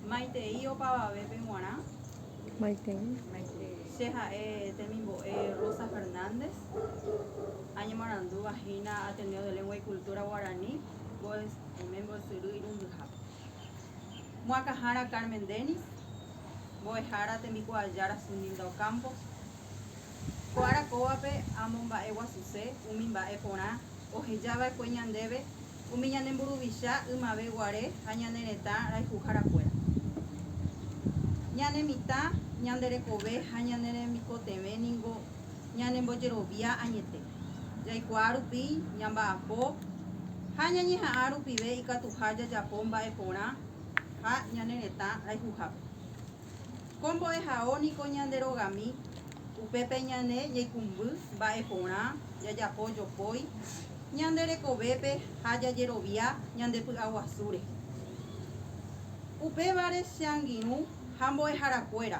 Maitei opavavépe g̃uarã. Maitei. Che ha'e temimbo'e Rosa Fernández, añemarandúva hína Ateneo de Lengua y Cultura Guaraní Boemes mbo'esyry irundyhápe. Moakãhára Carmen Denis, mbo'ehára tembikuaajára Suninda Ocampos. Ko ára kóvape amomba'eguasuse umi mba'e porã ohejava'ekue ñandéve. umi ñane mburuvicha ymave guare ha ñane retã rayhuhára kuéra. Ñane mitã, ñande rekove ha ñane remikotevẽ ningo ñane mbojerovia añete, jaikuaa rupi ñamba'apo ha ñañeha'ã rupive ikatuha jajapo mba'e porã ha ñane retã rayhuhápe. Ko mbo'ehao niko ñande rogami, upépe ñane ñaikumby mba'e porã jajapo jopói, Ñande rekovépe ha jajerovia ñande py'aguasúre. Upévare che angirũ ha mbo'eharakuéra,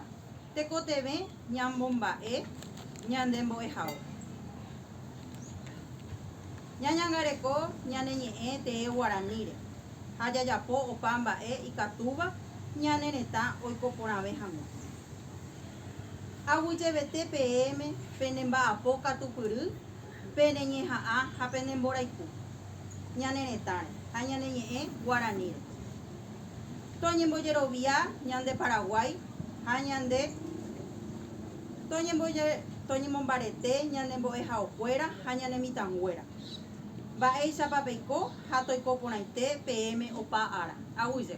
tekotevẽ ñamomba'e ñande mbo'ehao. Ñañangareko ñane ñe'ẽ tee guaraníre ha jajapo opa mba'e ikatúva ñane retã oiko porãve hag̃ua. Aguyjevete peẽme pene mba'apo katupyry Pene ñeha'ã ha pene mborayhu ñane retãre ha ñane ñe'ẽ guaraníre. Toñembojerovia ñande Paraguái ha ñande toñemombarete ñane mbo'ehaokuéra ha ñane mitãnguéra. Mba'éichapa peiko ha toiko porãite peẽme opa ára. Aguyje.